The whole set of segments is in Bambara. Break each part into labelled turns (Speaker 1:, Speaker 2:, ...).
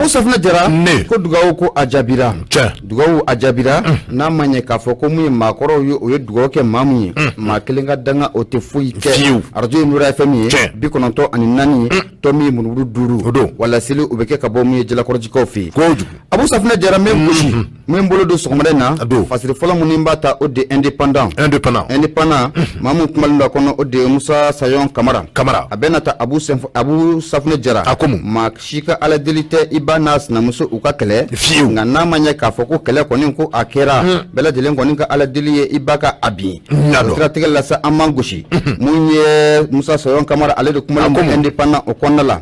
Speaker 1: abu safunɛ jara ne ko dugawu ko a jaabira cɛ dugawu a jaabira n'a ma ɲɛ k'a fɔ ko mun ye maakɔrɔw ye o ye dugawu kɛ maa mun ye maa kelen ka danga o tɛ foyi kɛ fiyewu arajo ye nura fm ye bi kɔnɔntɔn ani naani tɔ min ye murumuru duuru o don wa laseli o bɛ kɛ ka bɔ mun ye jalakɔrɔjikaw fɛ yen kojugu abu safunɛ jara n bɛ gosi min bolo don sɔgɔmada in na a don fasiri fɔlɔ minnu b'a ta o de indépendant indépendant indépendant mhm. maa min kumalen don a kɔnɔ o de musa sayon kamara kamara a bɛna ta abu abu safunɛ jara a ko mun maa si ka ala deli tɛ i ba n'a sinamuso u ka kɛlɛ fiyewu nka n'a ma ɲɛ k'a fɔ ko kɛlɛ kɔni ko a kɛra mhm. bɛɛ lajɛlen kɔni ka ala deli ye i ba ka a bin o siratigɛ la sa an man gosi mun mhm. ye musa sayon kamara ale de kumalen don indépendant o kɔnɔna la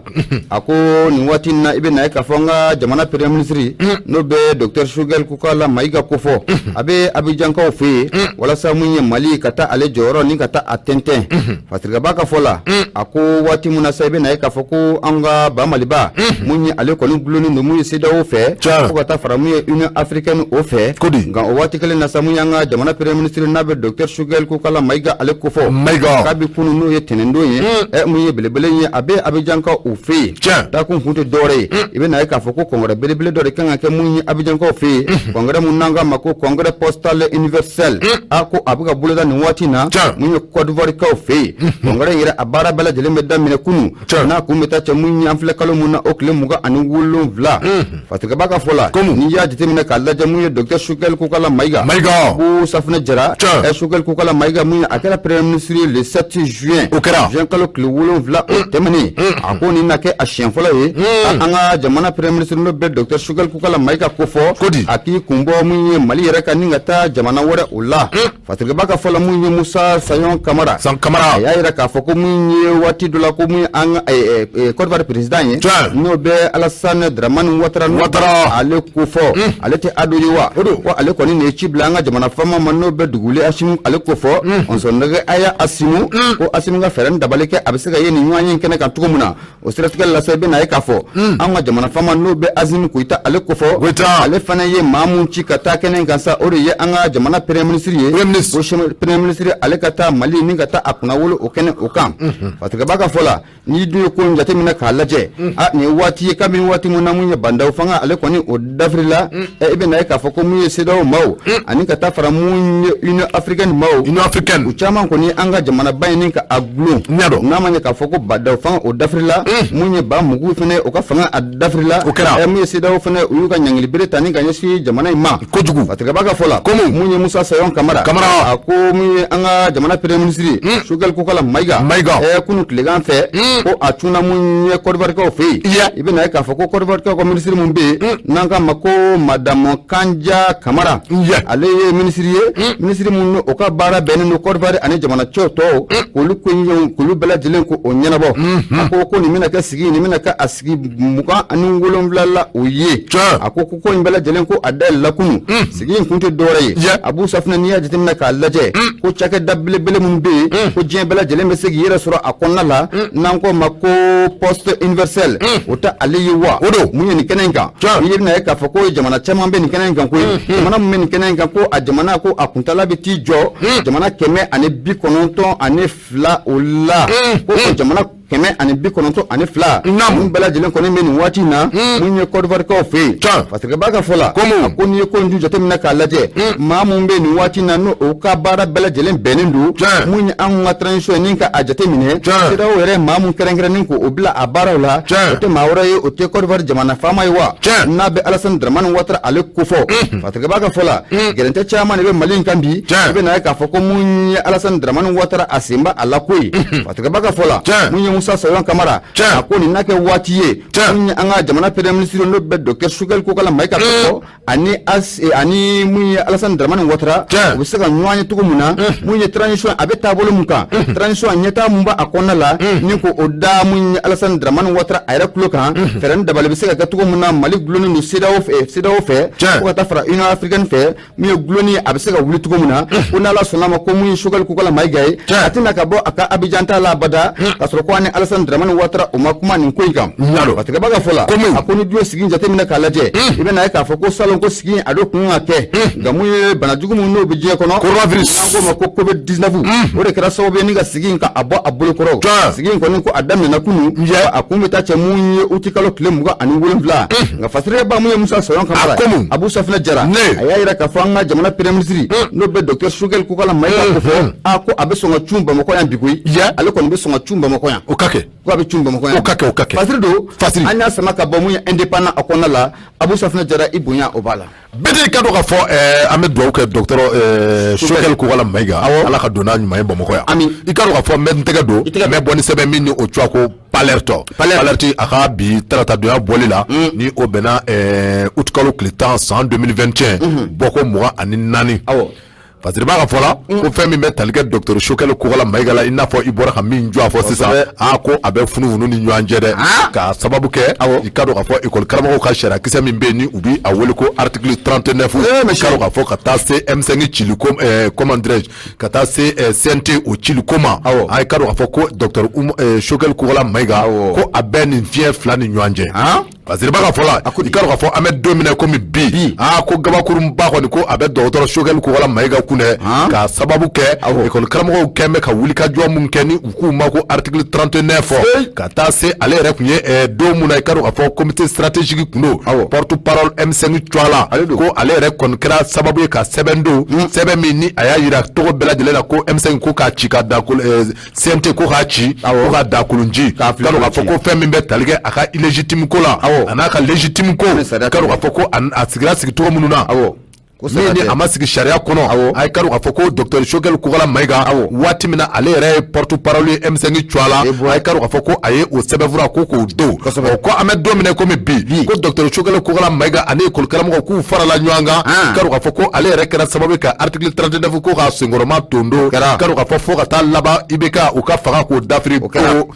Speaker 1: a ko nin waati na i bɛ na ye k'a fɔ an ka jamana premier ministre n'o bɛ dɔkitɛri sugɛli kokala mayiga kofɔ a bɛ abijankaw fɛ yen walasa min ye mali ka taa ale jɔyɔrɔ ni ka taa a tɛntɛn fasirikɛba ka fɔ la a ko waati min na sa i bɛ na ye k'a fɔ ko an ka ba maliba min ye ale kɔni dulonnen don min ye cedeao fɛ fo ka taa fara min ye union africaine o fɛ nka o waati kelen na sa min y'an ka jamana premier ministre n'a bɛ dɔkitɛri kokala mayiga ale kofɔ mayiga kabi kunun n'o ye tɛnɛndon ye hmm. ɛ mun ye belebele ye a bɛ abijankaw fɛ yen tiɲɛ taa kun kun tɛ dɔwɛrɛ ye hmm. i bɛ na ye k'a fɔ ko congrès belebele dɔ de kan ka kɛ mun ye abijankaw fɛ yen hmm. congrès mun n'an k'a ma ko congrès postal universel a ko a bɛ ka boloda nin waati in na mun ye kɔdiwarikaw fɛ yen congrès in yɛrɛ a baara bɛɛ lajɛlen bɛ daminɛ kunun n'a kun bɛ taa cɛ mun ye an filɛ kalo min na o tile mugan ani wolonwula fasirikɛba ka fɔ la komi n'i y'a jateminɛ k'a lajɛ mun ye docteur sukɛli kokala mayiga mayiga abu safunɛ jara ɛ sukɛli kokala mayiga mun a kɛra premier ministre ye le 7 juin o kɛra juin kalo tile wolonwula o tɛmɛnen a ko nin na kɛ a siɲɛ fɔlɔ ye an ka jamana premier ministre n'o bɛ docteur sukɛli kokala mayiga kofɔ a k'i kun bɔ mun ye mali yɛrɛ kan ni ka taa jamana wɛrɛ o la Fasirikɛba ka fɔ la mun ye musa sayɔn kamara san kamara a y'a jira k'a fɔ ko mun ye waati dɔ la ko min an ka kɔdiwari président ye n'o bɛ alasan dramani watara watara ale kofɔ ale tɛ ado ye wa ko ale kɔni nin ye ci bila an ka jamana fama ma n'o bɛ dugule asimi ale kofɔ muso nɛgɛ a y'a asimi ko asimi ka fɛɛrɛ ni dabali kɛ a bɛ se ka ye nin ɲɔgɔnye kɛnɛ kan cogo min na o siratigɛ la sa i bɛ na ye k'a fɔ hmm. an ka jamana fama n'o bɛ asimi goyita ale kofɔ ale fana ye maa min ci ka taa kɛnɛ kan sa o de ye an ka jamana premier ministre ye ko premier ministre ale ka taa mali ni ka taa a kunnawolo o kɛnɛ o kan hmm. fasirikɛba ka fɔ la n'i dun ye ko in jateminɛ k'a lajɛ hmm. a nin ye waati ye kabini waati min na mun ye ba ndaw fanga ale kɔni o dafirila mm. eh, i bɛna ye k'a fɔ ko mun ye cedeao maw mm. ani ka taa fara mun ye union africaine maw union africaine u caman kɔni an ka jamanaba in ni ka a dulon ɲadɔ n'a ma ɲɛ k'a fɔ ko ba ndaw fanga o dafirila mm. mun ye ba mugu fɛnɛ o ka fanga a dafirila o kɛra eh, mun ye cedeao fɛnɛ u y'u ka ɲangilibere ta ni ka ɲɛsin jamana in ma kojugu fasirikɛba ka fɔ la komu mun ye musa sayon kamara kamara a ko mun ye an ka jamana premier ministre sukɛli kokala mayiga mayiga eh, kunu tilegan fɛ ko a cunna mun ye kɔdiwarikaw fɛ yen i bɛna ye k'a fɔ ko kɔdiwari ka minisiri min bɛ yen mm. n'an k'a ma ko madamu kanja kamara ale ye minisiri ye mm. minisiri min n'o ka baara bɛnnen don kɔdiwari ani jamana cɛ tɔw mm. k'olu ko ɲɛw k'olu bɛɛ lajɛlen ko o ɲɛnabɔ mm-hmm. a ko ko nin bɛna kɛ sigi nin bɛna kɛ a sigi mugan ani wolonwula la o ye a ko ko ko nin bɛɛ lajɛlen ko a dayɛlɛla kunu sigi in kun tɛ dɔwɛrɛ ye Yɛ. abu safinɛ n'i y'a jateminɛ k'a lajɛ ko cakɛda belebele minnu bɛ yen ko diɲɛ bɛɛ lajɛlen bɛ se k'i yɛrɛ sɔrɔ a kɔnɔna la n'an k'o ma ko poste universelle o tɛ ale ye wa O don. mun ye nin kɛnɛ in kan Tiɲɛ. i ye bɛna ye k'a fɔ ko jamana caman bɛ nin kɛnɛ in kan koyi jamana min bɛ nin kɛnɛ in kan ko a jamana ko a kuntala bɛ t'i jɔ jamana kɛmɛ ani bi kɔnɔntɔn ani fila o la ko o jamana kɛmɛ ani bi kɔnɔntɔn ani fila minnu bɛɛ lajɛlen kɔni bɛ nin waati in na hmm. mun ye kɔdiwarikaw fɛ yen fasirikɛbaa ka fɔ la a ko n'i ye ko in ju jateminɛ k'a lajɛ hmm. maa min bɛ nin waati in na n'o o ka baara bɛɛ lajɛlen bɛnnen don mun ye an ka transition ni ka a jateminɛ CEDEAO yɛrɛ maa min kɛrɛnkɛrɛnnen k'o bila a baaraw la o tɛ maa wɛrɛ ye o tɛ kɔdiwari jamana faama ye wa n'an bɛ alasani daramani watara ale kofɔ hmm. fasirikɛbaa ka fɔ la gɛrɛntɛ caman de bɛ mali in kan bi i bɛ na ye k'a fɔ ko mun ye alasani daramani watara a sen b'a la koyi Tigɛba ka fɔ la mun ye musa sayɔn kamara a ko nin na kɛ waati ye an ka jamana premier ministre n'o bɛ dɔktɛr sogɛli kokala mayiga kofɔ ani ani mun ye alasani dramani watara u bɛ se ka ɲɔgɔn ye cogo min na mun ye transition a bɛ taabolo min kan transition ɲɛtaa min b'a kɔnɔna la ni k'o da mun ye alasani dramani watara a yɛrɛ tulo kan fɛɛrɛ dabali bɛ se ka kɛ cogo min na mali gulonni in o CEDEAO fɛ fo ka taa fara union africaine fɛ mun ye gulonni a bɛ se ka wuli cogo min na ko n'ala sɔnna ma ko mun ye sogɛli kokala mayiga ye a tɛna ka bɔ a ka abijan taa la abada k'a sɔrɔ ko a ni alasani dramani watara u ma kuma nin ko in kan fasirikɛbaa ka fɔ la a ko n'i dun ye sigi in jateminɛ k'a lajɛ i bɛna ye k'a fɔ ko salon ko sigi in a do kun ka kɛ nka mun ye bana jugu min n'o bɛ diɲɛ kɔnɔ coronavirus an k'o ma ko covid 19 o de kɛra sababu ye ni ka sigi in ka a bɔ a bolo kɔrɔ sigi in kɔni ko a daminɛna kunu a kun bɛ taa cɛ mun ye uti kalo tile mugan ani wolonwula nka fasirikɛbaa mun ye musa sayɔn kamara a komu abu safina jara ne a y'a yira k'a fɔ an ka jamana premier ministre hmm. n'o bɛ dɔktɛr sogɛli kokala mayiga hmm, ko fɔ hmm. a ko a bɛ sɔn ka cun bamakɔ yan bi koyi ale kɔni bɛ sɔn ka cun bamakɔ yan o ka kɛ ko a bɛ cun bamakɔ yan o ka kɛ o ka kɛ fasiri don fasiri an y'a sama ka bɔ mun ye indépendant a kɔnɔna la abu safina jara i bonya o b'a la bɛɛ de ka dɔn k'a
Speaker 2: fɔ eh, an bɛ dugawu kɛ dɔktɛr eh, sogɛli kokala mayiga ala ka don n'a ɲuman ye bamakɔ yan i ka dɔn k'a fɔ n bɛ n tɛgɛ don n bɛ bɔ ni sɛbɛn min ni o tɔgɔ ye ko l'alerte l'alerte a ka bi taratadonya bɔli la mm. ni o bɛnna eh, uti kalo tile tan san 2021 mm-hmm. bɔko mugan ani naani fasiribaa ka fɔ la mm. ko fɛn min bɛ tali kɛ dɔgɔtɔrɔ sogɛli kokala mayiga la i n'a fɔ i bɔra ka min jɔ a fɔ sisan a ko a bɛ funufunu ni ɲɔgɔn cɛ dɛ ah. k'a sababu kɛ i ka dɔn k'a fɔ ekɔli karamɔgɔw ka sariya kisɛ min bɛ yen ni u bɛ a wele ko article 39 eh, i ka dɔn k'a fɔ ka taa se M5 cili ko eh, comment dirais-je ka taa se eh, CNT o cili ko ma i k'a dɔn k'a fɔ ko docteur eh, Choguel Kokalla Maïga ko a bɛ nin fiɲɛ fila ni ɲɔgɔn cɛ parce que b'a ka fɔ la i k'a dɔn k'a fɔ an bɛ don min na komi bi aa ko kabakuruba kɔni ko a bɛ docteur Choguel Kokalla Maïga kun dɛ k'a sababu kɛ école karamɔgɔw kɛlen bɛ ka wulikajɔ minnu kɛ k'u ma ko article 39 fo ka taa se ale yɛrɛ tun ye eh, don min na i k'a dɔn k'a fɔ comité stratégique tun don porte-parole M5 tɔgɔ la ko ale yɛrɛ kɔni kɛra sababu ye ka sɛbɛn don hmm. sɛbɛn min ni a y'a yira cogo bɛɛ lajɛlen na ko M5 ko k'a ci ka dakolo eh, CNT ko k'a ci ko ka dakolonji ka dɔn k'a fɔ ko fɛn min bɛ tali kɛ a ka illégitime ko la a n'a ka légitime ko ka dɔn k'a fɔ ko a sigira sigi cogo minnu na a ma sigi sariya kɔnɔ a ye k'a dɔn k'a fɔ ko docteur Choguel Kokalla Maïga waati min na ale yɛrɛ ye porte-parole ye M5 tɔgɔ la a ye k'a dɔn k'a fɔ ko a ye o sɛbɛnfura ko k'o don ko an bɛ don min na komi bi ko docteur Choguel Kokalla Maïga ani école karamɔgɔw k'u farala ɲɔgɔn kan ah. k'a dɔn k'a fɔ ko ale yɛrɛ kɛra sababu ka article 39 ko k'a senkɔrɔmadondon k'a dɔn k'a fɔ fo ka taa laban IBK u ka fanga k'o dafiri pewu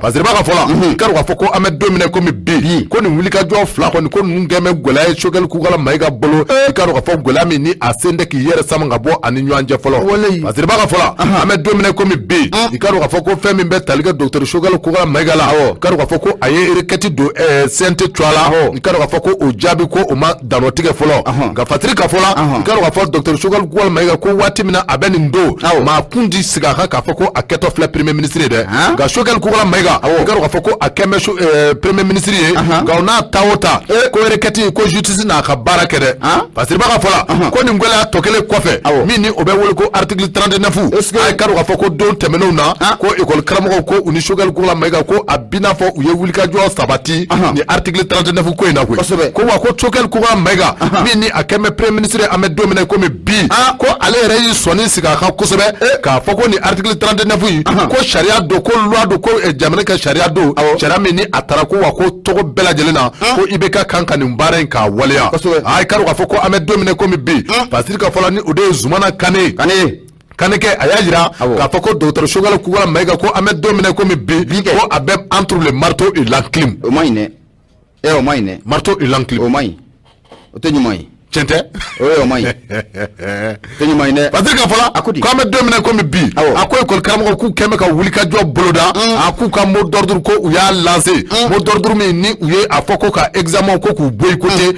Speaker 2: parce que b'a ka fɔ la mhm. i k'a dɔn k'a fɔ ko an bɛ don min na komi bi ko nin wulikajɔ fila kɔni ko ninnu kɛn bɛ gɛlɛya ye Choguel Kokalla Maïga bolo eh. i k'a dɔn k'a fɔ gɛlɛya min ni a sen tɛ k'i yɛrɛ sama ka bɔ a ni ɲɔgɔn cɛ fɔlɔ parce que b'a ka fɔ la an bɛ don min na komi bi ah. i k'a dɔn k'a fɔ ko fɛn min bɛ tali kɛ docteur Choguel Kokalla Maïga la awɔ i k'a dɔn k'a fɔ ko a ye requête don ɛɛ eh, CNT tɔgɔ la i k'a dɔn k'a fɔ ko o jaabi ko o ma dantigɛ fɔlɔ ka fati ka fɔlɔ ka fɔ dɔtɛri sukali ma e ko waati min a bɛ nin don maa kun di sigi a kan k'a fɔ ko a kɛtɔ filɛ peremɛ minisiriri dɛ nka sokɛkɛ kola ma eka k'a fɔ ko a kɛmɛ eh, peremɛ minisiriri ye nka n'a ta o ta e ko wɛrɛkɛti ko zutisi n'a ka baara kɛ dɛ fasiba ka fɔ ko nin gɛlɛya tɔ kelen kɔfɛ min o bɛ wele ko arariki tranteɛfu e ka k'a fɔ ko don tɛmɛnenw na ko ekɔli karamɔgɔ ko u ni sokɛkɛ kola ma e ko a bɛnaa fɔ u ye wulikajɔ sabati ni article 39 ko in na koyi kosɛbɛ ko wa ko Choguel Kokalla Maïga min ni a kɛn bɛ premier ministre an bɛ don min na komi bi ah. ko ale yɛrɛ y'i sɔnni sigi a kan kosɛbɛ eh. k'a fɔ ko ni article 39 in ko sariya don ko loi don ko eh, jamana ka sariya don sariya min ni a taara ko wa ko cogo bɛɛ lajɛlen na ah. ko IBK kan ka nin baara in k'a waleya a ye k'a dɔn k'a fɔ ko an bɛ don min na komi bi ah. fasiri ka fɔ la ni o de ye zumana kane kanɛkɛ a y'a jira k'a fɔ ko docteur Choguel Kokalla Maïga ko an bɛ don min na komi bi ko a bɛ entre le marteau et l'enclume o ma ɲi dɛ
Speaker 1: ɛ eh, o ma ɲi dɛ marteau et l'enclume o ma ɲi o tɛ ɲuman ye tiɲɛ tɛ o ye
Speaker 2: o ma
Speaker 1: ɲi o tɛ ɲuman ye dɛ parce que ka fɔ la a ko di
Speaker 2: k'an bɛ don min na komi bi a ko école karamɔgɔw k'u kɛn bɛ ka wulikajɔ boloda mm. a k'u ka mot d'ordre ko u y'a lancer mm. mot d'ordre min ni u ye a fɔ ko ka examen ko k'u boycotter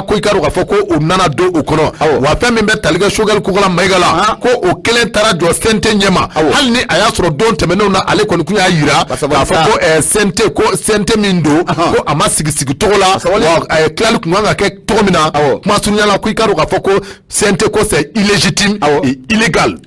Speaker 2: ko i ka dɔn k'a fɔ ko u nana don o kɔnɔ wa fɛn min bɛ tali kɛ Choguel Kokala Mayiga la ko o kelen taara jɔ CNT ɲɛma hali ni a y'a sɔrɔ don tɛmɛnenw na ale kɔni kun y'a jira k'a fɔ ko ɛɛ CNT ko CNT min don ko a ma sigi sigi cogo la wa ɛɛ tilali kun kan ka kɛ cogo min na kuma surunya la ko i ka dɔn k'a fɔ ko CNT ko c'est illégitime et illégal.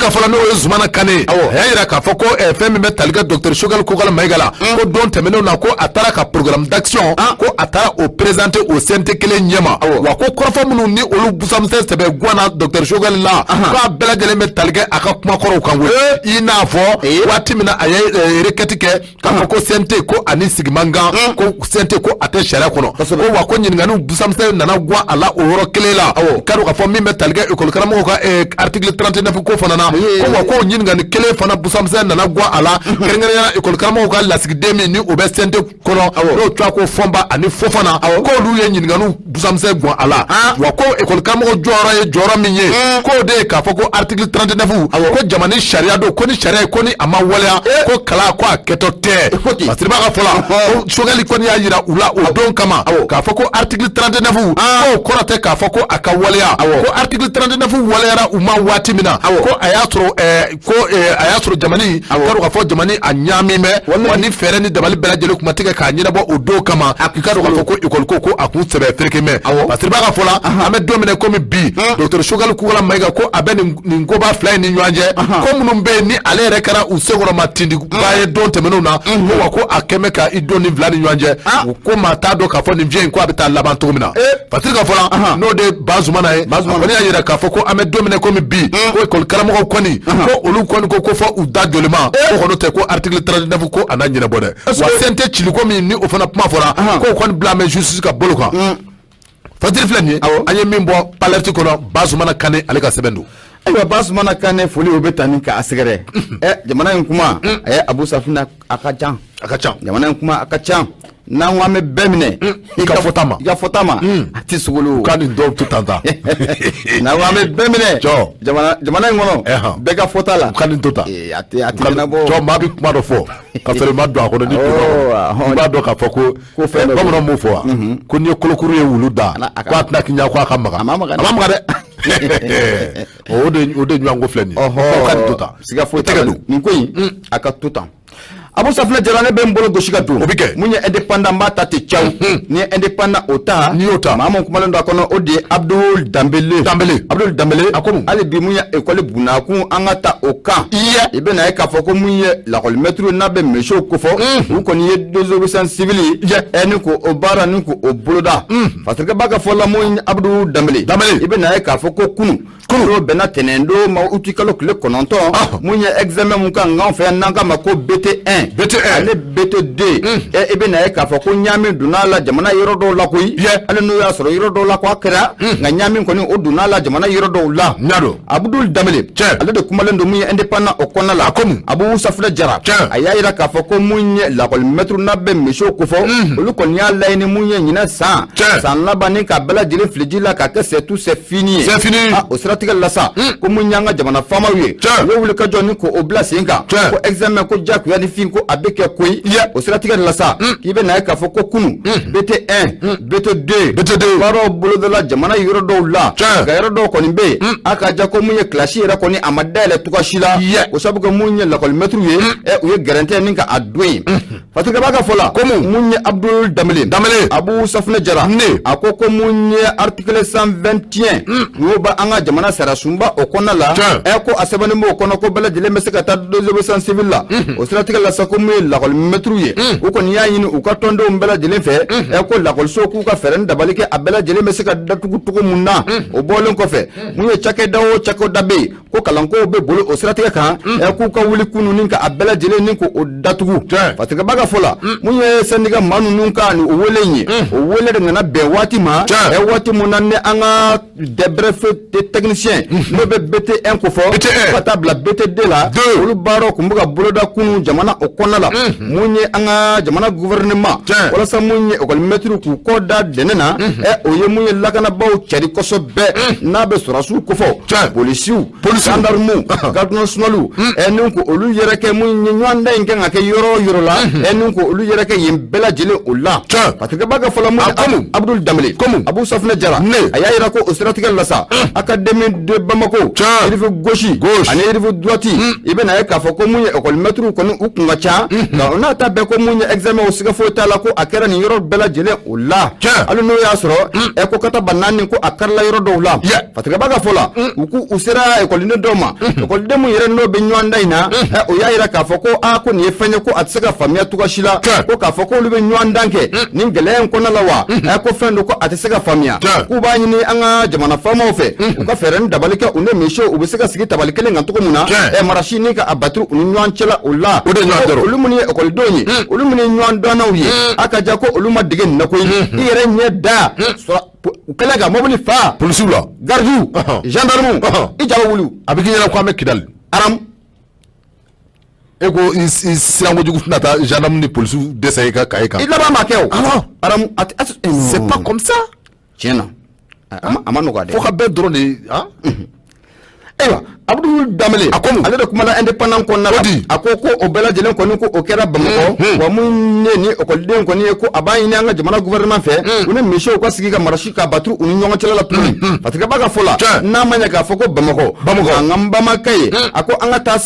Speaker 2: ka fɔ la n'o ye Zumana Kane a y'a jira k'a fɔ ko fɛn min bɛ talikɛ docteur Choguel Kokala Mayiga la mm. ko don tɛmɛnenw na ko a taara ka programme d'action ah. ko a taara o présenter o CNT kelen ɲɛma wa ko kɔrɔfɔ minnu ni olu busamisɛn sɛbɛ gwanna docteur Choguel la k'a bɛɛ lajɛlen bɛ talikɛ a ka kumakɔrɔw kan i n'a fɔ waati min na a ye requête kɛ K'a fɔ ko CNT ko a ni sigi man kan ko CNT ko a tɛ sariya kɔnɔ ko wa ko ɲininkaliw busamisɛn nana gwan a la o yɔrɔ kelen la i k'a dɔn k'a fɔ min bɛ tali kɛ école karamɔgɔw ka eh, article 39 ko fana na ko wa k'o ɲininkali kelen fana busamisɛn nana gwan a la kɛrɛnkɛrɛnnenya la école karamɔgɔw ka lasigiden min ni o bɛ CNT kɔnɔ n'o tɔgɔ ko Fɔnba ani Fofana k'olu ye ɲininkaliw busamisɛn gwan a la wa ko ekɔli karamɔgɔ jɔyɔrɔ ye jɔyɔrɔ min ye k'o de ye k'a fɔ ko article 39 ko jamana in sariya don ko nin sariya in ko ni a ma waleya ko kalan ko a kɛtɔ tɛ fasiribaa ka fɔ la ko Choguel kɔni y'a jira u la o don kama k'a fɔ ko article 39 k'o kɔrɔ tɛ k'a fɔ ko a ka waleya ko article 39 waleyara u ma waati min na ko a y'a sɔrɔ ko eh, a y'a sɔrɔ jamana in k'a dɔn k'a fɔ jamana a ɲaaminen bɛ wa ni fɛɛrɛ ni dabali bɛɛ lajɛlen kun ma tigɛ k'a ɲɛnabɔ o don kama i k'a dɔn k'a fɔ ko ekɔli ko ko a kun sɛbɛ ferekelen bɛ fasiribaa ka fɔ la an bɛ don min na komi bi docteur Choguel Kokala Mayiga ko a bɛ nin koba fila in ni ɲɔgɔn cɛ ko minnu bɛ yen ni ale yɛrɛ kɛra u senkɔrɔmatintinbaa ye don tɛmɛnenw na ko wa ko a kɛlen bɛ ka i don nin fila ni ɲɔgɔn cɛ ko maa t'a dɔn k'a fɔ nin fiɲɛ in ko a bɛ taa laban cogo min na fasiri ka fɔ la n'o de ye Bazumana ye a kɔni y'a jira k'a fɔ ko an bɛ don min na komi bi ko ekɔli karamɔgɔw kɔni ko olu kɔni ko ko fɔ u da joliman ko n'o tɛ ko article 39 ko a na ɲɛnabɔ dɛ wa CNT ciliko min ni o fana kuma fɔra k'o kɔni bilalen bɛ justice ka bolo kan. fasiri filɛ nin ye an ye min bɔ l'Alerte kɔnɔ Bazumana Kane ale ka sɛbɛn don ayiwa
Speaker 1: Bazumana Kane foli o bɛ tani k'a sɛgɛrɛ ɛ jamana in kuma a ye abu safina a ka can a ka can jamana in kuma a ka can n'an ko an bɛ bɛɛ minɛ i ka fɔta ma
Speaker 2: i ka fɔta ma a tɛ
Speaker 1: sogolo ka nin dɔw to tan
Speaker 2: tan
Speaker 1: n'an ko an bɛ bɛɛ minɛ jamana jamana in kɔnɔ bɛɛ ka fɔta la ka nin to tan a
Speaker 2: tɛ a tɛ ɲɛnabɔ
Speaker 1: cɔ maa bɛ kuma dɔ fɔ
Speaker 2: ka sɔrɔ i ma don a kɔnɔ ni i b'a dɔn k'a fɔ ko ko fɛn bamanan b'o fɔ wa ko n'i ye kolokuru ye wulu da ko a tɛna kiɲa ko a ka maga a ma maga dɛ o de o de ɲɔgɔn ko filɛ nin ye ka nin to tan siga foyi t'a la nin
Speaker 1: ko in mm. a ka to tan abu safina jara ne bɛ n bolo gosi ka don o bɛ kɛ mun ye indépendant n b'a ta ten caw mm-hmm. n'i ye indépendant o ta n'i y'o ta maa mun
Speaker 2: kumalen don a kɔnɔ
Speaker 1: o de ye abdul danbele danbele abdul danbele a ko mun hali bi mun ye ekɔli bunakun an ka ta o kan i ye i bɛ na ye k'a fɔ ko mun ye lakɔlimɛtiriw n'an bɛ misiw kofɔ u kɔni ye désobéissance civile ni ko o baara ni ko o boloda fatirikɛba ka fɔ la mun abudul danbele i bɛ na ye k'a fɔ ko kunun o bɛnna tɛnɛn don ma uti kalo tile kɔnɔntɔn mun ye examen mun kan nk'an fɛ yan n'an k'a ma ko BT 1 BT 1 ani BT 2 i bɛ na ye k'a fɔ ko ɲaami donna a la jamana yɔrɔ dɔw la koyi hali n'o y'a sɔrɔ yɔrɔ dɔw la ko a kɛra nka ɲaami kɔni o donna a la jamana yɔrɔ dɔw la abudul danbele tiɲɛ ale de kumalen don mun ye indépendant o kɔnɔna la a ko mun abu safunɛ jara tiɲɛ a y'a jira k'a fɔ ko mun ye lakɔli mɛtiriw n'an bɛ misiw kofɔ mhm. olu kɔni y'a laɲini mun ye ɲinɛ san tiɲɛ san laban ni ka bɛɛ lajɛlen fili ji la k'a kɛ c'est tout c'est fini ye c'est fini a o siratigɛ la sa mhm. ko mun y'an ka jamana faamaw ye tiɲɛ u ye wuli ka jɔ ni ko o bila sen kan tiɲɛ ko examen ko jagoya ni fin ko a bɛ kɛ koyi o siratigɛ la sa mhm. k'i bɛ na ye k'a fɔ ko kunu bt 1 BT 2 BT 2 baaraw bolodala jamana yɔrɔ dɔw la nka yɔrɔ dɔw kɔni bɛ yen a ka ja ko mun ye kilasi yɛrɛ kɔni a ma dayɛlɛ cogoya si la o sabu ko mun ye lakɔlimɛtiriw ye u ye garan ta ni ka a don yen fatirikɛba ka fɔ la ko mun ye abudul danbele abu safunɛ jara ɛ a ko ko mun ye article 121 tiɲɛ n'o bɛ an ka jamana sariya sunba o kɔnɔna la ɛ ko a sɛbɛnlen b'o kɔnɔ ko bɛɛ lajɛlen bɛ se ka taa désobéissance civile la o siratigɛ la sa ko mun ye lakɔli mɛtiriw ye u kɔni y'a ɲini u ka tɔndenw bɛɛ lajɛlen fɛ ɛ ko lakɔliso k'u ka fɛɛrɛ ni dabali kɛ a bɛɛ lajɛlen bɛ se ka datugu cogo mun na o bɔlen kɔfɛ mun ye cakɛda o cakɛda bɛ yen ko kalankow b'a bolo o siratigɛ kan ɛ k'u ka wuli kunun ni ka a bɛɛ lajɛlen ni k'o datugu fatigɛba ka fɔ la mun ye sɛndiga maa ninnu ka nin o wele in ye o wele de nana bɛn waati ma ɛ waati mun na ni an ka des brevets de technicien n'o bɛ BT 1 kofɔ fo ka taa bila BT 2 la olu baaraw tun bɛ ka boloda kunun jamana o kɔnɔna la mun ye an ka jamana gouvernement walasa mun ye ekɔlimɛtiriw k'u kɔ da dɛnɛ na ɛ o ye mun ye lakanabaaw cari kosɛbɛ n'an bɛ sɔrɔdasiw kofɔ polisiw polisi gendarmew garde nationaliw ɛ ni ko olu yɛrɛkɛ mun ye ɲɔgɔndan in kan ka kɛ yɔrɔ o yɔrɔ la ɛ ni ko olu yɛrɛkɛ yen bɛɛ lajɛlen o la fatigɛba ka fɔ la mun ye abudul danbele abu safunɛ jara a y'a jira ko o siratigɛ la sa académie de Bamako rive gauche ani rive droite i bɛna ye k'a fɔ ko mun ye ekɔlimɛtiriw kɔni u kun ka ca nka o n'a ta bɛɛ ko mun ye examen o siga foyi t'a la ko a kɛra nin yɔrɔ bɛɛ lajɛlen o la hali n'o y'a sɔrɔ ɛ ko katabanaani ko a kɛra a la yɔrɔ dɔw la fatigɛba ka fɔ la u ko u sera ekɔliden dɔ ma ekɔliden min yɛrɛ n'o bɛ ɲɔgɔndan in na o y'a jira k'a fɔ ko a ko nin ye fɛn ye ko a tɛ se ka faamuya cogoya si la ko k'a fɔ k'olu bɛ ɲɔgɔndan kɛ nin gɛlɛya in kɔnɔna la wa ɛ ko fɛn don ko a tɛ se ka faamuya k'u b'a ɲini an ka jamana faamaw fɛ u ka fɛɛrɛ ni dabali kɛ u ni misiw u bɛ se ka sigi tabali kelen kan cogo min na ɛ marasi ni ka a batiri u ni ɲɔgɔn cɛla o la olu minnu ye ekɔlidenw ye olu minnu ye ɲɔgɔndannaw ye a ka ja ko olu ma dege nin na koyi i yɛrɛ ɲɛ da u kɛlen ka mobili fa polisiw la garidiw gendarmes i ja bɛ wuli a bɛ k'i ɲɛna ko an bɛ kidali
Speaker 2: aram e ko i siran kojugu fɛ na taa gendarme ni polisiw dessiner i ka kaye kan i laban ma kɛ
Speaker 1: o
Speaker 2: aram
Speaker 1: c'est pas
Speaker 2: comme ça tiɲɛ na
Speaker 1: a ma nɔgɔya dɛ fo ka bɛɛ dɔrɔn de ayiwa abdul danbele a ko ale de kumana indépendant kɔnɔna la a ko ko o bɛɛ lajɛlen kɔni ko o kɛra bamakɔ hmm, hmm. wa mun ne ni ekɔliden kɔni ye ko a b'a ɲini an ka jamana gouvernement fɛ hmm. u ni messieurs ka sigi ka marasi ka baturu u ni ɲɔgɔn cɛla la tuguni parce que b'a ka fɔ la n'a ma ɲɛ k'a fɔ ko bamakɔ an ka bamakɛ ye a ko an ka taa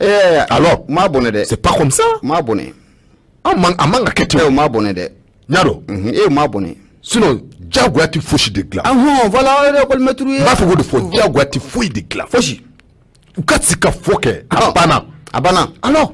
Speaker 2: Ɛɛ
Speaker 1: alors o ma bɛn dɛ c'est pas comme ça o ma bɛn a
Speaker 2: man ka kɛ ten o ma bɛn
Speaker 1: dɛ n'a dɔn
Speaker 2: o ma bɛn
Speaker 1: sinon jagoya
Speaker 2: tɛ fosi de dilan
Speaker 1: lakɔlimɛtiriw b'a fɔ de fɔ jagoya
Speaker 2: tɛ foyi de dilan fosi
Speaker 1: u ka
Speaker 2: sigikafɔ kɛ a banna a banna
Speaker 1: alors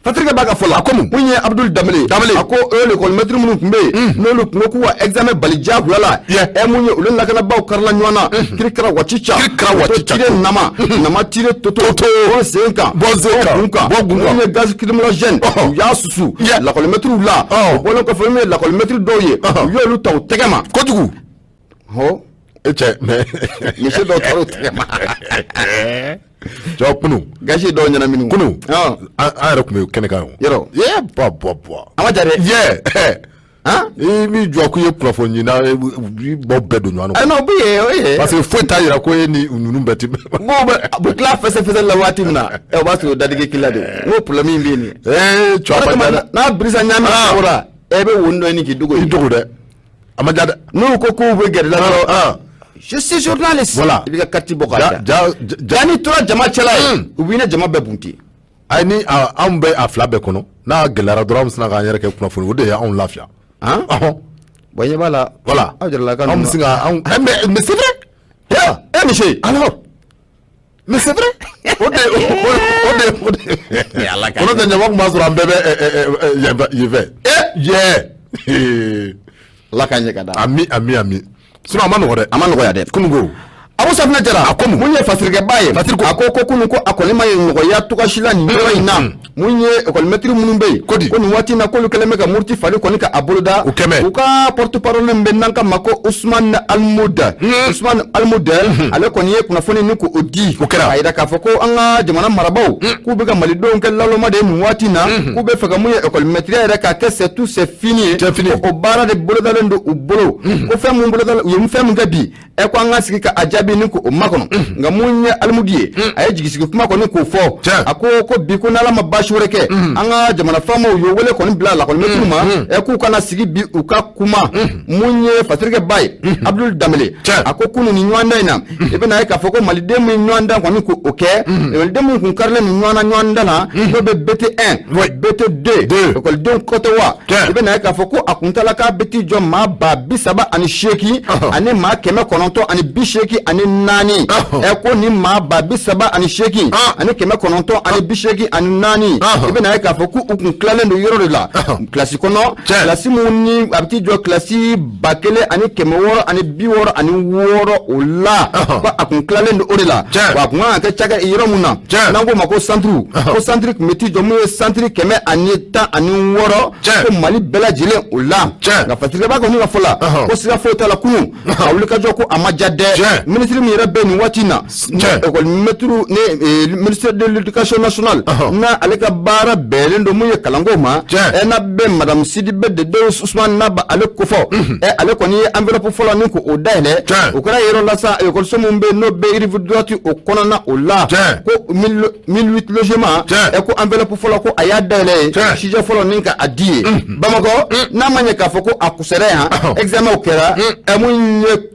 Speaker 1: patirikɛ b'a ka fɔ la a ko mun mun ye abdul danbele a ko ekɔlimɛtiri minnu tun bɛ yen n'olu tun ko k'u bɛ examen bali jagoya la ɛ mun ye olu ni lakanabaaw karila ɲɔgɔn na kirikira wacica kirikira wacica tire nama nama tire toto toto o sen kan bɔ sen kan bɔ kan bɔ kun kan ye gaz lacrymogène u y'a susu lakɔlimɛtiriw la o bɔlen kɔfɛ min ye lakɔlimɛtiri dɔw ye u y'olu ta u tɛgɛ ma kojugu hɔ e cɛ
Speaker 2: mais monsieur dɔw
Speaker 1: taara u tɛgɛ
Speaker 2: ma jɔ kunu gaz ye dɔw ɲɛnamini
Speaker 1: kunu an
Speaker 2: yɛrɛ tun bɛ kɛnɛ kan yɔrɔ ye bɔ
Speaker 1: bɔ bɔ
Speaker 2: a ma ja dɛ
Speaker 1: yɛ
Speaker 2: i min jɔ ko i ye kunnafoniɲinina ye, u b'aw bɛɛ don ɲɔgɔn na. ɛnna o bɛ yen o
Speaker 1: ye. parce que foyi t'a
Speaker 2: yira ko e ni ninnu bɛɛ tɛ. n ko bɛ a bɛ tila
Speaker 1: fɛsɛfɛsɛ la waati min na ɛ o b'a sɔrɔ o dadigi k'i la de n ko problème in bɛ yen nin. ɛɛ cɔ a ma ja dɛ. n'a birisa ɲaami kora e bɛ wonin dɔ ɲini k'i dogo. i dogo
Speaker 2: dɛ a ma ja dɛ. n'u ko
Speaker 1: k'u bɛ gɛrɛ i la dɔrɔn. je suis journaliste. voilà i b'i ka carte bɔ
Speaker 2: k'a da.
Speaker 1: ja ja ja n'i tora jama cɛla ye. u b'i ni jama bɛɛ bunte. ayi ni
Speaker 2: anw bɛ a fila bɛɛ kɔnɔ n'a gɛlɛyara dɔrɔn an sina k'an yɛrɛ kɛ kunnafoni o de ye anw lafiya han
Speaker 1: bon ɲɛ b'a la voilà aw jarala ka anw
Speaker 2: bɛ se ka
Speaker 1: anw eh, mais
Speaker 2: mais c'est vrai eh monsieur alors mais c'est vrai o de o de o de kɔnɔ tɛ ɲama tun b'a sɔrɔ an bɛɛ bɛ yen fɛ eh yɛ ala
Speaker 1: k'a ɲɛ ka da ami ami ami
Speaker 2: sinon a ma a ma nɔgɔya dɛ kunu ko
Speaker 1: Abu Safinɛ Jara a ko mun ye fasirikɛba ye a ko ko kunu ko a kɔni ma ye nɔgɔya tɔgɔsila nin yɔrɔ in na mm. mun ye ekɔli mɛtiri minnu bɛ yen ko nin waati in na k'olu kɛlen bɛ ka muruti fari kɔni ka a boloda u ka porte parole min bɛ n'an k'a ma ko Usman Almudu mm. Usman Almudu mm-hmm. ale kɔni ye kunnafoni nin k'o di a y'a yira k'a fɔ ko an ka jamana marabaaw mm. k'u bɛ ka malidenw kɛ naloma de ye nin waati in na mm-hmm. k'u b'a fɛ ka mun ye ekɔli mɛtiriya yɛrɛ k'a kɛ sɛ tu sɛ fini c'est fini o baara de bolodalen don u bolo ko mhm. fɛn mun bolodalen u ye fɛn mun kɛ bi ɛ ko an ka sigi ka a jaabi ni ko o makɔnɔ mhm. nka mun ye alimudu ye mhm. a ye jigisigi kuma kɔni k'o fɔ a ko ko bi ko n'ala ma baasi wɛrɛ kɛ an ka jamana faamaw ye wele kɔni bila lakɔlimɛtiriw ma ɛ k'u ka na sigi bi u ka kuma mun ye fatirikɛ ba ye abudul danbele a ko kunun ni ɲɔgɔndan in na i bɛna ye k'a fɔ ko maliden min ɲɔgɔn dan kɔni ko o kɛ ekɔliden min kun karilen don ɲɔgɔn na ɲɔgɔn dan na n'o bɛ bete un bete deux ekɔlidenw kofɔ wa i bɛna ye k'a fɔ ko a kuntala k'a bɛ t'i jɔ maa ba bi saba ani seegin ani maa kɛmɛ kɔnɔntɔn ani bi seegin ani naani ɛ ko ni maa ba bi saba ani seegin ani kɛmɛ kɔnɔntɔn ani bi seegin ani naani i bɛna ye k'a fɔ ko u kun tilalen don yɔrɔ de la kilasi kɔnɔ kilasi minnu ni a bɛ t'i jɔ kilasi ba kelen ani kɛmɛ wɔɔrɔ ani bi wɔɔrɔ ani wɔɔrɔ o la ko a kun tilalen don o de la wa a kun kan ka kɛ cakɛ yɔrɔ min na n'an k'o ma ko santiri ko santiri tun bɛ t'i jɔ mun ye santiri kɛmɛ ani tan ani wɔɔrɔ ko mali bɛɛ lajɛlen o la nka fatirikɛba kɔni ka fɔ la ko siga foyi t'a la kunun a wulikajɔ ko a ma ja dɛ minisiri min yɛrɛ bɛ nin waati in na miniridkasoninali n ale ka baara bɛɛlen don ye kalanko ma e na bɛ marasidi bɛ de don su naba ale ko fɔ ɛ ale kɔni ye an fɛlɛp fɔlɔ ni ko o da dɛ o kɛra yɔrɔ la ekɔso minnu bɛ n'o bɛ yirifiti o kɔnɔna o la ko milima ɛ ko an fɛlɛp fɔlɔ ko a y'a day ye sijɛ fɔlɔ min ka a di ye bamakɔ n'a ma ɲɛ k'a fɔ ko a kusɛ yan ezw kɛra ɛ ye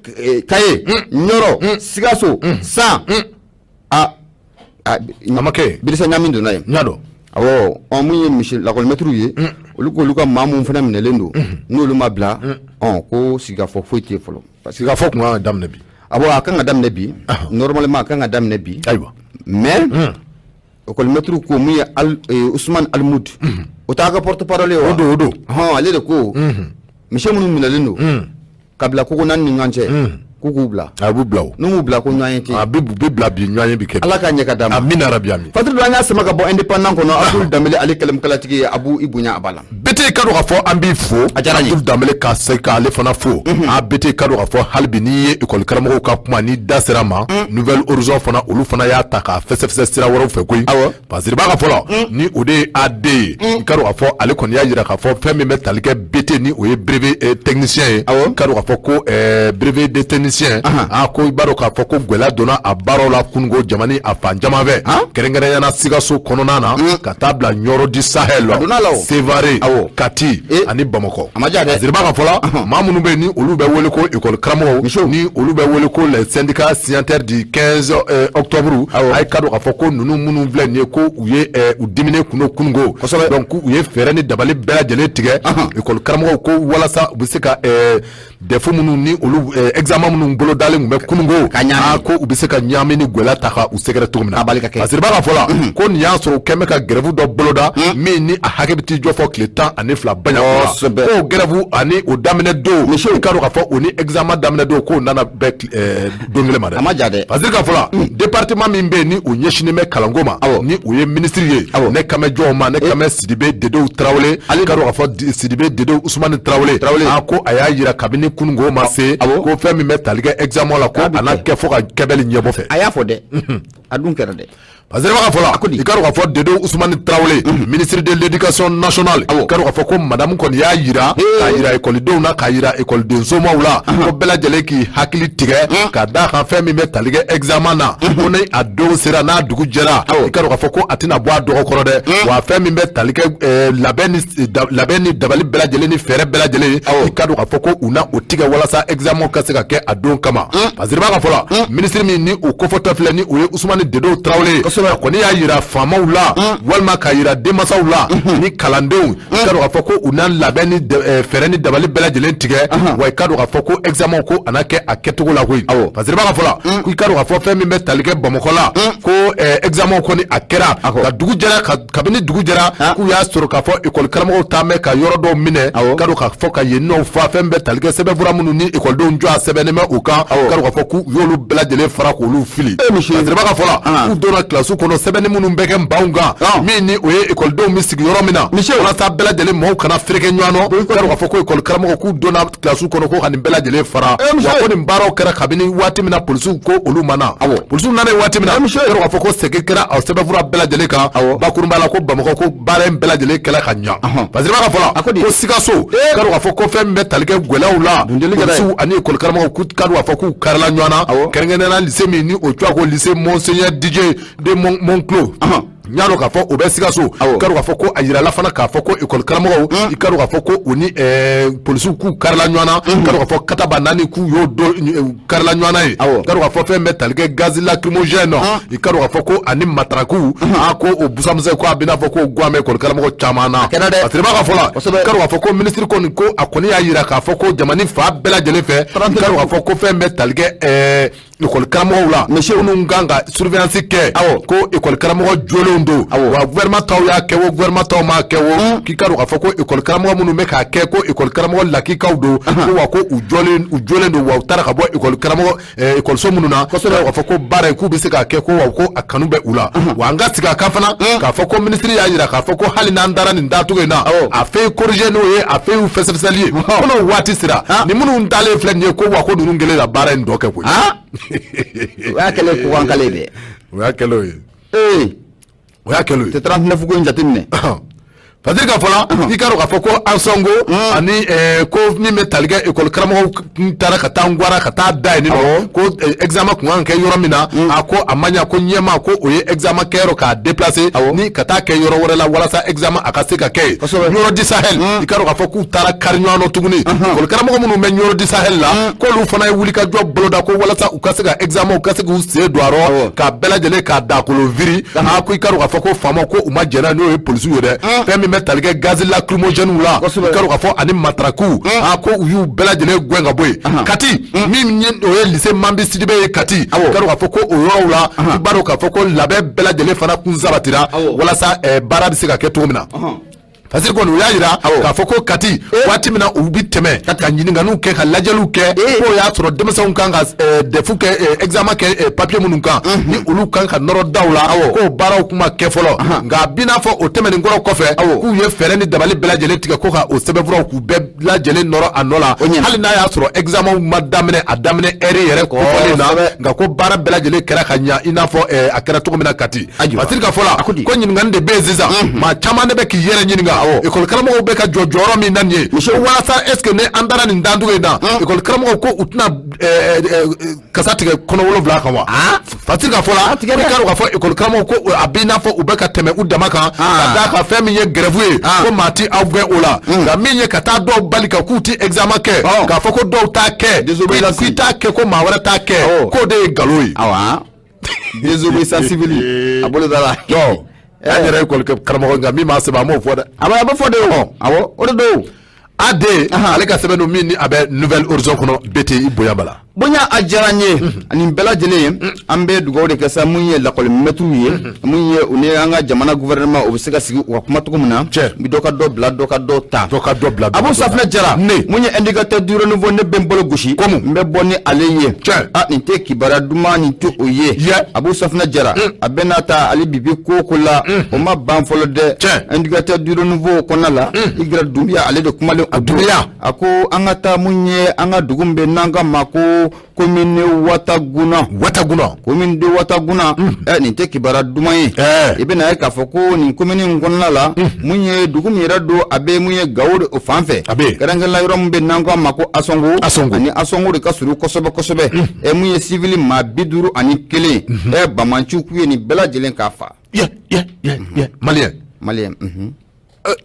Speaker 1: Kaye ɲɔrɔ sikaso san
Speaker 2: a ma kɛ barisa ɲami donna
Speaker 1: yen y'a
Speaker 2: dɔn minnu
Speaker 1: ye monsieur lakɔlimɛtiriw ye olu ko olu ka maa minnu fana minɛlen don n'olu
Speaker 2: ma
Speaker 1: bila ko
Speaker 2: sigikafɔ foyi
Speaker 1: tɛ yen fɔlɔ parce que sigikafɔ
Speaker 2: tun
Speaker 1: ka kan ka daminɛ
Speaker 2: bi
Speaker 1: abɔn a ka kan ka daminɛ bi normalement a ka kan ka daminɛ bi ayiwa mais ekɔlimɛtiriw ko min ye usumani alimudu o ta ka porte-parole o don o don hɔn ale
Speaker 2: de ko
Speaker 1: monsieur minnu minɛlen don k'a bila ko n'an ni ɲɔgɔn cɛ k'u k'u bila a b'u bila n'u
Speaker 2: ma bila ko ɲɔgɔnye
Speaker 1: tɛ a bɛ bila bi ɲɔgɔnye
Speaker 2: bɛ kɛ ala k'a ɲɛ ka da amiina
Speaker 1: yarabi fatura
Speaker 2: an y'a sama ka bɔ
Speaker 1: indépendant kɔnɔ abudul danbele ale kalimukalatigi abu i bonya a b'a la bete i k'a dɔn k'a
Speaker 2: fɔ an b'i fo danbele ka se k' ale fana fo mhm. a bete i k'a dɔn k'a fɔ halibi n'i ye ekɔlikaramɔgɔw ka kuma ni da sera ma mhm. nouvel horizon fana olu fana y'a ta ka fɛsɛfɛsɛ sira wɛrɛw fɛ koyi parce que ba ka fɔ la mhm. ni o de ye a de ye i k'a dɔn k'a fɔ ale kɔni y'a jira k'a fɔ fɛn min bɛ tali kɛ bete ni o ye brevet eh, technicien ye i k'a dɔn k'a fɔ ko eh, brevet de technicien a ko i b'a dɔn k'a fɔ ko gɛlɛya donna a baaraw la kunun ko jamana a fan caman fɛ kɛrɛnkɛrɛnyana sikaso kɔnɔna na ka taa bila ɲɔrɔ du sahel la sevare kati eh. ani bamakɔ ziriba ka fɔla maa minnu bɛ ni olu bɛ wele ko école karamɔgɔw ni olu bɛ wele ko les syndicats signataires du 15 eh, octobre a y'i k'a dɔn k'a fɔ ko ninnu minnu filɛ nin ye ko u ye eh, u diminen kun don kununko donc u ye fɛɛrɛ ni dabali bɛɛ lajɛlen tigɛ école karamɔgɔw ko walasa u bɛ se ka DEF minnu ni olu examen minnu bolodalen kun bɛ kununko ka ɲa ko u bɛ se ka ɲagami ni gɛlɛya taa ka u sɛgɛrɛ cogo min na parce que b'a ka fɔ la ko n'i y'a sɔrɔ u kun bɛ ka grève dɔ boloda min ni a hakɛ bɛ t'i jɔ fɔ tile tan ani fila ba grève ani o daminɛ don i k'a dɔn k'a fɔ o ni examen daminɛ don k'o nana don kelen ma dɛ a ma ja dɛ parce que ka fɔla mm. département min bɛ ni o ɲɛsinnen bɛ kalanko ma ni o ye minisiri ye ne kan bɛ jɔn ma ne kan bɛ sidibe dedew tarawele i k'a dɔn k'a fɔ sidibe dedew usumani tarawele a ko a y'a jira kabini kununko ma se ko fɛn min bɛ tali kɛ examen la ko a na kɛ fo ka kɛbɛli ɲɛbɔ fɛ a y'a fɔ dɛ
Speaker 1: a dun kɛra dɛ Parce que b'a ka fɔ
Speaker 2: la i k'a dɔn k'a fɔ dedew usumani tarawele ministre de l'éducation nationale i k'a dɔn k'a fɔ ko madamu kɔni y'a jira k'a jira ekɔlidenw na k'a jira ekɔlidensomɔgɔw la ko bɛɛ lajɛlen k'i hakili tigɛ ka da kan fɛn min bɛ tali kɛ examen na ko ni a don sera n'a dugu jɛra i k'a dɔn k'a fɔ ko a tɛna bɔ a dɔgɔ kɔrɔ dɛ wa fɛn min bɛ tali kɛ labɛn ni dabali bɛɛ lajɛlen ni fɛɛrɛ bɛɛ lajɛlen i k'a dɔn k'a fɔ ko u na o tigɛ walasa examen ka se ka kɛ a don kama parce que b'a ka fɔ la mm. minisiri min ni o kofɔtɔ filɛ ni o ye usumani dedew tarawele a kɔni y'a yira faamaw la mm. walima k'a yira denmasaw la mm-hmm. ni kalandenw mm. i k'a dɔn k'a fɔ ko u na labɛn ni eh, fɛɛrɛ ni dabali bɛɛ lajɛlen tigɛ uh-huh. wa i k'a dɔn k'a fɔ ko examen ko a na kɛ a kɛcogo la koyi parce que b'a ka fɔ la ko i k'a dɔn k'a fɔ fɛn min bɛ tali kɛ bamakɔ la ko eh, examen kɔni a kɛra ka dugu jɛra ka kabini dugu jɛra ah. k'u y'a sɔrɔ k'a fɔ ekɔli karamɔgɔw taalen bɛ ka yɔrɔ dɔw minɛ k'a dɔn k'a fɔ ka yen nɔw fa fɛn bɛ tali kɛ sɛbɛnfura minnu ni ekɔlidenw tɔgɔ sɛbɛnnen bɛ u kan k'a dɔn k'a fɔ k'u y'olu bɛɛ lajɛlen fara k'olu fili parce que b'a ka fɔ la ah. k'u donna kilasi kɔnɔ sɛbɛnni minnu bɛ kɛ banw kan ah. min ni o ye ekɔlidenw bɛ sigi yɔrɔ min na walasa bɛɛ lajɛlen maaw kana fereke ɲɔgɔn na k'a dɔn k'a fɔ ko ekɔli karamɔgɔw k'u donna kilasiw kɔnɔ ko ka nin bɛɛ lajɛlen fara eh, wa ko nin baaraw kɛra kabini waati min na polisiw ko olu ma na polisiw nana yen waati min na eh, k'a dɔn k'a fɔ ko sɛgin kɛra a sɛbɛnfura bɛɛ lajɛlen kan bakurunba la ko bamakɔ ko baara in bɛɛ lajɛlen kɛla ka ɲa parce que b'a ka fɔ la ko sikaso eh. k'a dɔn k'a fɔ ko fɛn min bɛ tali kɛ gwɛlɛw la polisiw ani ekɔli karamɔgɔw k'u k'a dɔn k'a fɔ k'u karila ɲɔgɔn na kɛrɛnkɛrɛnnenya lycée min ni o tɔgɔ ko lycée monseigneur didier de montclos Y'a dɔn k'a fɔ o bɛ sikaso awɔ, k'a fɔ ko a jirala fana k'a fɔ ko école karamɔgɔw mm. i k'a dɔn k'a fɔ ko u ni eh, polisiw k'u karila ɲɔgɔn na mm. k'a dɔn k'a fɔ katabaanaani k'u y'o don eh, karila ɲɔgɔn na ye awɔ, k'a dɔn k'a fɔ fɛn bɛ tali kɛ gaz lacrymogène nɔ ah. i k'a dɔn k'a fɔ ko ani mataraku mm-hmm. a ah, ko o busa misɛn ko a bɛna fɔ ko guwan bɛ école karamɔgɔ caman na a kɛra dɛ Batirima ka fɔ la kosɛbɛ, k'a dɔn k'a fɔ ko minisiri kɔni ko a kɔni y'a jira k'a fɔ ko jamana fan bɛɛ lajɛlen fɛ k'a dɔn k'a fɔ ko fɛn bɛ tali kɛ eh, Kɔli karamɔgɔ la mɛ se minnu kan ka surveillance kɛ aw ko ekɔli karamɔgɔ jɔlen don wa gouvernement taw y'a kɛ o gouvernement taw m'a kɛ o k'i ka dɔn k'a fɔ ko ekɔli karamɔgɔ minnu bɛ k'a kɛ ko ekɔli karamɔgɔ lakikaw don wa ko u u jɔlen don wa u taara ka bɔ ekɔli karamɔgɔ ekɔliso minnu na k'a fɔ ko baara ye k'u bɛ se k'a kɛ ko ko a kanu bɛ u la wa an ka sigi a ka fana k'a fɔ ko minisiri y'a jira k'a fɔ ko hali n'an taara nin date in na a feuille corriger n'o ye a feuille fɛsɛfɛsɛli ye waati sera ni minnu dalen filɛ nin ye ko wa ko ninnu kelen la baara in dɔ kɛ
Speaker 1: koyi ah! o y'a kɛlen ko an kale dɛ o y'a kɛlen
Speaker 2: ye
Speaker 1: ee o y'a kɛlen ye tɛ trente-neuf ko in jateminɛ parce que ka
Speaker 2: fɔ la i ka dɔn k'a fɔ ko ansɔngo hmm. ani eh, ko min bɛ tali kɛ ekɔli karamɔgɔw taara ka taa n gwara ka taa da yen nɔ ko examen eh, kun kan ka kɛ yɔrɔ min na hmm. a ko a ma ɲa ko ɲɛma ko o ye examen kɛyɔrɔ k'a déplacer ni ka taa kɛ yɔrɔ wɛrɛ la walasa examen a ka se ka kɛ ɲɔrɔ di sahel hmm. i ka dɔn k'a fɔ k'u taara kari ɲɔgɔn na tuguni école karamɔgɔ minnu bɛ ɲɔrɔ di sahel la k'olu fana ye wulikajɔ boloda ko walasa u ka se ka examen u ka se k'u sen don a rɔ ka bɛɛ lajɛlen k'a dakolo viri a ko i ka dɔn k'a fɔ ko faamaw ko u ma jɛn n'o ye polisiw ye dɛ fɛn min bɛ tali kɛ gazi lacrymogène la i ka dɔn k'a fɔ ani matarakiw a ko u y'u bɛɛ lajɛlen gɛn ka bɔ yen kati min ye o ye lycée mambi sidibe ye kati i ka dɔn k'a fɔ ko o yɔrɔw la i b'a dɔn k'a fɔ ko labɛn bɛɛ lajɛlen fana kun sabatira walasa eh, baara bɛ se ka kɛ cogo min na parce kɔni u y'a jira k'a fɔ ko kati eh. waati min na u bi tɛmɛ ka ɲininkaliw kɛ ka lajɛliw kɛ eh. k'o y'a sɔrɔ denmisɛnw kan ka eh, dɛfu kɛ examen kɛ papiye minnu kan mhm. ni olu kan ka nɔrɔ daw la k'o baaraw kun ma kɛ fɔlɔ nka a bi n'a fɔ o tɛmɛnen kɔrɔ kɔfɛ k'u ye fɛɛrɛ ni dabali bɛɛ lajɛlen tigɛ ko ka o sɛbɛnfuraw k'u bɛɛ lajɛlen nɔrɔ a nɔ la hali n'a y'a sɔrɔ examen ma daminɛ a daminɛ heure yɛrɛ kofɔlen na nka ko baara bɛɛ lajɛlen kɛra ka ɲa i n'a fɔ eh, a kɛra cogo min na kati masiri ka fɔ la ko ɲininkani de bɛ yen sisan mhm. maa caman de bɛ k'i yɛrɛ ɲininka ekɔli karamɔgɔw bɛ ka jɔ jɔyɔrɔ min na nin ye walasa est ce que ni an taara nin dancogo in na ekɔli karamɔgɔw ko u tɛna eh, eh, kasa tigɛ kɔnɔ wolonwula kan wa ah? fatiri ka fɔ la i k'a dɔn k'a fɔ ekɔli karamɔgɔw ko a b'i n'a fɔ u bɛ ka tɛmɛ u dama kan ah. ka d'a kan fɛn min ye gɛrɛfu ye ah. ko maa ti aw gɛn o la hmm. nka min ye ka taa dɔw bali ka k'u ti examen kɛ oh. k'a fɔ ko dɔw t'a kɛ k'i t'a kɛ ko maa wɛrɛ t'a kɛ oh. k'o de ye nkalon
Speaker 1: ye désobéissance civile a boloda la an yɛrɛ ye
Speaker 2: ekɔli karamɔgɔ nka min b'a sɛbɛn an b'o fɔ dɛ a bɛ fɔ de o
Speaker 1: awɔ o de don AD
Speaker 2: ale ka sɛbɛn don min ni a bɛ nouvel horizon kɔnɔ bete i bonya bala bonya a diyara n
Speaker 1: ye ani bɛɛ lajɛlen an bɛ dugawu de kɛ sa mun ye lakɔli mɛtiriw ye mun ye u ni an ka jamana gouvernement o bɛ se ka sigi u ka kuma cogo min na bi dɔ ka dɔ bila dɔ ka dɔ ta dɔ ka dɔ bila abu safinɛ jara ne mun ye indicateur du renouveau ne bɛ n bolo gosi komu n bɛ bɔ ni ale ye a nin tɛ kibaruya duman nin tɛ o ye abu safinɛ jara a bɛ n'a ta ale bibi ko ko la o ma ban fɔlɔ dɛ indicateur du renouveau kɔnɔna la hmm. igira dunbiya ale de kumalen a dunbiya a ko an ka taa mun ye an ka dugu min bɛ n'an ka ma ko komine wataguna wataguna komine de wataguna hmm. ɛ nin tɛ kibaruya duman ye i bɛna ye k'a fɔ ko nin komini in kɔnɔna la hmm. mun ye dugu min yɛrɛ don a bɛ mun ye gawo de o fan fɛ kɛrɛnkɛrɛnla yɔrɔ min bɛ n'an ka ma ko ansɔngo ansɔngo ani ansɔngo de ka surun kosɛbɛ kosɛbɛ ɛ mun ye sivili maa bi duuru ani kelen ɛ banbaanciw k'u ye nin bɛɛ lajɛlen k'a fa maliyɛn maliyɛn euh.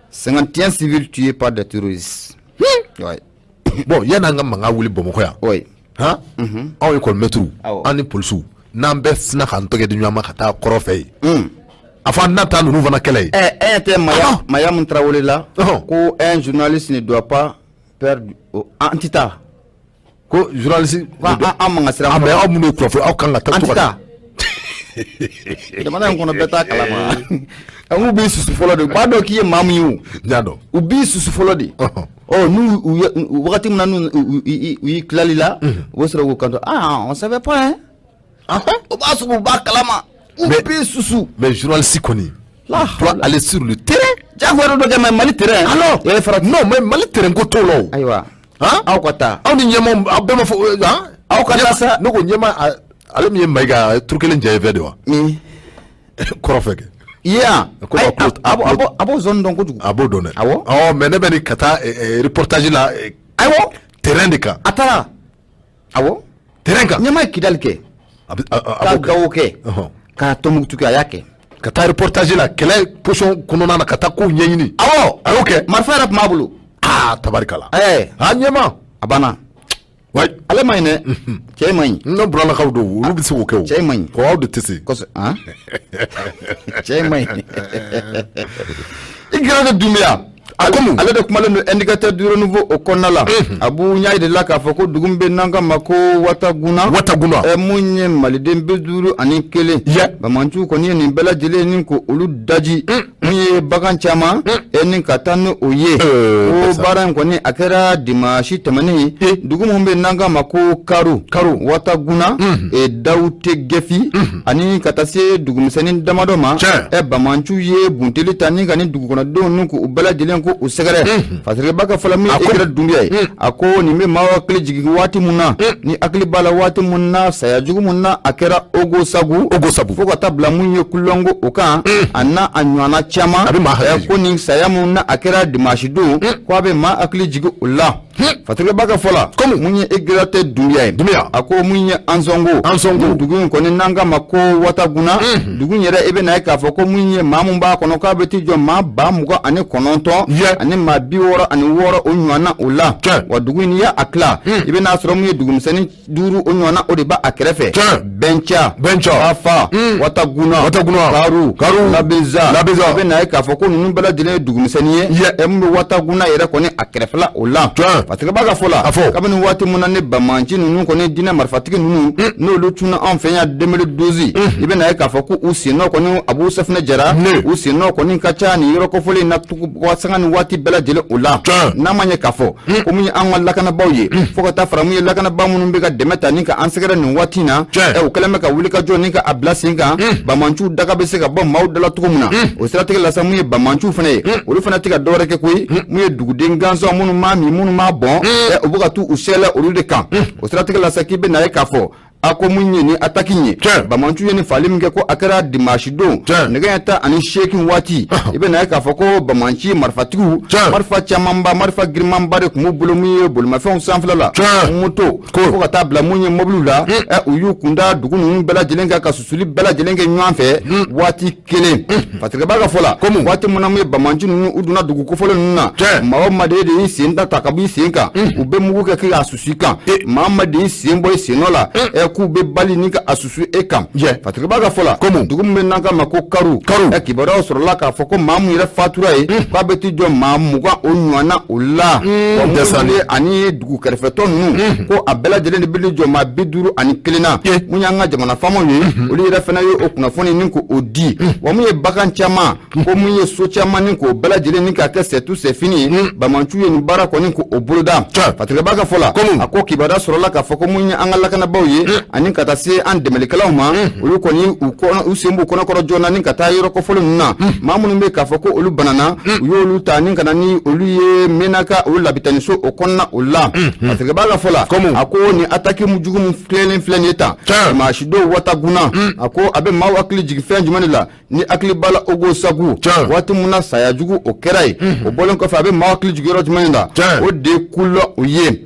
Speaker 1: cinquante et un civils tués par des terroristes
Speaker 2: hmm. bon yanni an ka mankan wuli bamakɔ yan han mhm. aw ekɔlimɛtiriw an ni polisiw n'an bɛɛ sina k'an tɛgɛ di ɲɔgɔn ma ka taa kɔrɔ fɛ yen hmm. a fɔ an na taa ninnu fana kɛlɛ ye. ɛ ɛ ɲɛ tɛ maya
Speaker 1: ah. mayamu tarawele la ko un journaliste ne doit pas peur an tɛ taa.
Speaker 2: Ko journaliste ko an an man ka
Speaker 1: siran mais aw minnu ye kunnafoni
Speaker 2: aw kan ka taa an tɛ taa
Speaker 1: jamana in kɔnɔ bɛɛ t'a kalama a k'u b'i susu fɔlɔ de u b'a dɔn k'i ye maa min ye o n y'a dɔn u b'i susu fɔlɔ de Ɔhɔn. ɔ n'u u ye u- wagati min na n'u u- u- i- i- u y'i tilali la u bɛ sɔrɔ k'u kanto ah on savait pas hein o b'a sɔrɔ u b'a kalama u Mais- b'i susu mais journaliste kɔni
Speaker 2: Là tu dois aller sur le terrain jagoya dɔ kɛ
Speaker 1: mais mali terrain alors e fara non mais
Speaker 2: mali terrain ko t'o la o ayiwa
Speaker 1: aw ka taa aw ni ɲɛma aw bɛɛ
Speaker 2: ma fɔ aw ka taa sa ne ko ɲɛma ale min ye mayiga turu kelen jɛ fɛ de wa kɔrɔfɛ kɛ
Speaker 1: iya a b'o zone dɔn kojugu a b'o dɔn dɛ awɔ
Speaker 2: ɔ mais ne bɛ nin ka taa reportage la awɔ terrain de kan a taara awɔ terrain kan ɲama ye kidali
Speaker 1: kɛ ka gawo kɛ ka tɔmukutu kɛ a y'a kɛ ka taa reportage la
Speaker 2: kɛlɛ position kɔnɔna na ka taa kow ɲɛɲini awɔ a y'o kɛ marifa yɛrɛ tun b'a bolo
Speaker 1: aa tabarikala ɛɛ
Speaker 2: a
Speaker 1: ɲɛma a banna wayi ale man ɲi dɛ mhm. cɛ man ɲi ne buralakaw don
Speaker 2: olu bɛ se k'o kɛ o cɛ man ɲi ko aw de tɛ
Speaker 1: se kosɛbɛ
Speaker 2: han
Speaker 1: cɛ man ɲi igira dunbiya A ko ale de kumalen don indicateur du renouveau o kɔnɔna la a b'u ɲɛ de la k'a fɔ ko dugu min bɛ n'an ka ma ko wataguna wataguna mun ye maliden bi duuru ani kelen banbaanciw kɔni ye nin bɛɛ lajɛlen ni ko olu daji mun ye bagan caman e ni ka taa ni o ye ko baara in kɔni a kɛra dimansi tɛmɛnen dugu minnu bɛ n'an ka ma ko karu karu wataguna dawutegɛfi ani ka taa se dugumisɛnnin damadɔ ma ɛ banbaanciw ye bunteli ta ni ka ni dugukɔnɔdenw nu k'u bɛɛ lajɛlen ko u sɛgɛrɛ fasirikɛba ka fɔ la min igira dunbiya ye a ko nin bɛ maa hakili jigin waati min na ni hakili b'a la waati min na saya jugu min na a kɛra ogosagu ogosagu fo ka taa bila mun ye kulɔngo o kan a n'a ɲɔgɔnna caman ko nin saya min na a kɛra dimanche don ko a bɛ maa hakili jigin o la Fatigɛba ka fɔ la kɔmi mun ye Egiratɛ Dunbiya ye Dunbiya a ko mun ye anzɔngo anzɔngo dugu in kɔni n'an ka ma ko wataguna dugu yɛrɛ i bɛ na ye k'a fɔ ko min ye maa min b'a kɔnɔ k'a bɛ t'i jɔ maa ba mugan ani kɔnɔntɔn ani maa bi wɔɔrɔ ani wɔɔrɔ o ɲɔgɔn na o la wa dugu in n'i y'a tila i bɛna a sɔrɔ min ye dugumisɛnnin duuru o ɲɔgɔnna o de b'a a kɛrɛfɛ tiɲɛ bɛnca bɛnca fafa hmm. wataguna wataguna karu karu labeza labeza i bɛ na ye k'a fɔ ko ninnu bɛɛ lajɛlen ye dugumisɛnnin ye yɛ ɛ min bɛ wataguna yɛrɛ kɔni a kɛrɛfɛla o la tiɲɛ patigɛba ka fɔ la a fɔ kabini waati mun na ni bamanci ninnu kɔni diinɛ marifatigi ninnu hmm. n'olu cunna anw fɛ yan demili dozi hmm. i bɛ na ye k'a fɔ ko u sennɔ kɔni abu safinɛ jara u sennɔ kɔni ka ca nin yɔrɔ kofɔlen in na sanga ni waati bɛɛ lajɛlen o la n'a ma ɲɛ k'a fɔ hmm. ko mun ye an ka lakanabaaw ye hmm. fo ka taa fara min ye lakanabaa minnu bɛ ka dɛmɛ ta ni ka an sɛgɛrɛ nin waati in na u kɛlen bɛ ka wuli ka jɔ ni ka a bila sen kan hmm. bamanciw daga bɛ se ka bɔ maaw dala cogo min na o siratigɛ la sa mun ye bamanciw fana ye olu fana tɛ ka dɔwɛrɛ kɛ koyi mun ye duguden gansan minnu m'a min minnu m'a bɔn u bɛ ka t'u sɛlɛ olu de kan o siratigɛ la sa k'i bɛ na ye k'a fɔ a ko mun ye ni ataki ye bamanciw ye ni faali min kɛ ko a kɛra dimansi don nɛgɛ ɲɛ tan ani seegin waati i bɛna ye k'a fɔ ko bamanci marifatigiw marifa camanba marifa girimanba de tun b'u bolo min ye bolimafɛnw sanfɛla la moto fo ka taa bila mun ye mobiliw la u y'u kunda dugu ninnu bɛɛ lajɛlen kan ka susuli bɛɛ lajɛlen kɛ ɲɔgɔn fɛ waati kelen patigɛba ka fɔ la komi waati min na mun ye bamanci ninnu u donna dugu kofɔlen ninnu na maa o maa de y'i sen da ta ka b'i sen kan u bɛ mugu kɛ k'a susu i kan maa o maa de y'i sen bɔ i sen nɔ la ɛ k'u bɛ bali ni ka a susu e kan patigɛba ka fɔ la komi dugu min bɛ n'an ka ma ko karu karu ɛ kibaruyaw sɔrɔla k'a fɔ ko maa min yɛrɛ fatura ye k'a bɛ t'i jɔ maa mugan o ɲɔgɔnna o la dɛsɛlen ani dugu kɛrɛfɛtɔ ninnu ko a bɛɛ lajɛlen de bɛ jɔ maa bi duuru ani kelen na mun y'an ka jamana faamaw ye olu yɛrɛ fana ye o kunnafoni ni ko o di wa mun ye bagan caman ko mun ye so caman ni k'o bɛɛ lajɛlen ni k'a kɛ sɛtu sɛfini ye bamanciw ye nin baara kɔni ko o boloda fatigɛba ka fɔ la a ko kibaruya sɔrɔla k'a fɔ ko mun ye an ka lakanabaaw ye ani ka taa se an dɛmɛlikɛlaw ma olu kɔni u sen b'u kɔnɔkɔrɔ joona ni ka taa yɔrɔ kofɔlen ninnu na maa minnu bɛ k'a fɔ ko olu banana u y'olu ta ni ka na ni olu ye mɛnaka o labitaniso o kɔnɔna o la patigɛba ka fɔ la a ko ni ataki jugu min filɛlen filɛ nin ye tan dimansi don wataguna a ko a bɛ maaw hakili jigin fɛn jumɛn de la n'i hakili b'a la ogosagu waati min na saya jugu o kɛra ye o bɔlen kɔfɛ a bɛ maaw hakili jigin yɔrɔ jumɛn de la o de ye kulɔgɔn o ye